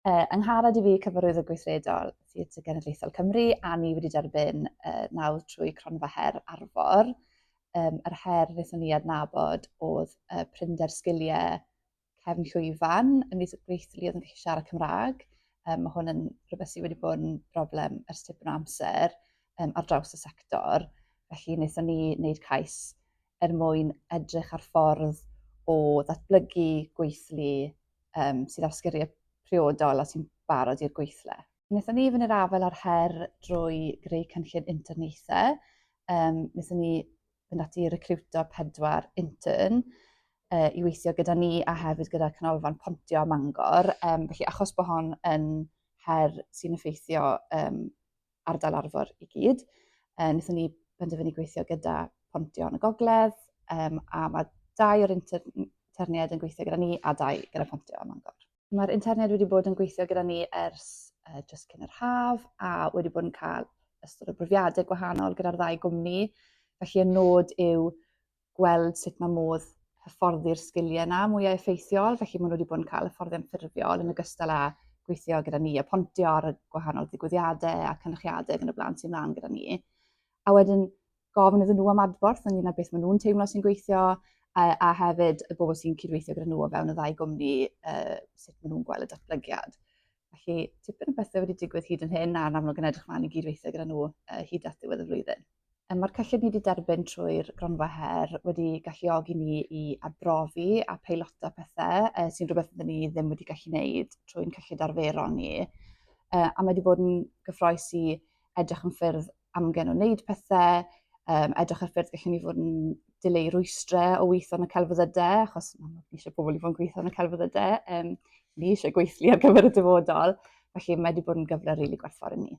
Uh, yngharad i fi cyfarwydd y gweithredol Theatr Genedlaethol Cymru a ni wedi derbyn uh, nawdd trwy cronfa her arfor. Um, yr her wnaethon ni adnabod oedd uh, prinder sgiliau cefn llwyfan yn mis gweithlu oedd yn gallu siarad Cymraeg. Um, mae hwn yn rhywbeth sydd wedi bod yn broblem ers tipyn o amser um, ar draws y sector. Felly wnaethon ni wneud cais er mwyn edrych ar ffordd o ddatblygu gweithlu um, sydd â sgyrriau priodol a sy'n barod i'r gweithle. Wnaethon ni fynd i'r afael â'r her drwy greu cynllun interniaethau. Um, wnaethon ni fynd ati i recruto pedwar intern uh, i weithio gyda ni a hefyd gyda Canolfan Pontio Mangor. Um, felly achos bod hon yn her sy'n effeithio um, ardal arfor i gyd. Uh, Nethon ni benderfynu gweithio gyda Pontio yn y gogledd, um, a mae dau o'r interniad yn gweithio gyda ni a dau gyda Pontio yn Mangor. Mae'r interniad wedi bod yn gweithio gyda ni ers uh, just cyn yr haf a wedi bod yn cael ystod o brofiadau gwahanol gyda'r ddau gwmni. Felly y nod yw gweld sut mae modd hyfforddi'r sgiliau yna mwyaf effeithiol, felly maen nhw wedi bod yn cael hyfforddiant ffurfiol yn ogystal â gweithio gyda ni a pontio ar y gwahanol ddigwyddiadau a cynrychiadau yn y blaen sy'n mlaen gyda ni. A wedyn gofyn iddyn nhw am adborth ynglyn â beth maen nhw'n teimlo sy'n gweithio a, a hefyd y bobl sy'n cydweithio gyda nhw o fewn y ddau gwmni, uh, sut maen nhw'n gweld y datblygiad. Felly, tipyn o bethau wedi digwydd hyd yn hyn, a'n amlwg yn edrych mlaen i gydweithio gyda nhw uh, hyd at ddiwedd y flwyddyn. Mae'r cyllid ni wedi derbyn trwy'r gronfa her wedi galluogi ni i arbrofi a peilota pethau uh, sy'n rhywbeth ydyn ni ddim wedi gallu gwneud trwy'n cyllid arferol ni. Uh, a mae wedi bod yn gyffroes i edrych yn ffyrdd amgen o wneud pethau, um, edrych ar ffyrdd gallen ni fod yn dileu rwystrau o weithio yn y celfyddydau, achos ni eisiau pobl i fod yn gweithio yn y celfyddydau, um, ni eisiau gweithlu ar gyfer y dyfodol, felly mae wedi bod yn gyfle rili really gwerthfawr i ni.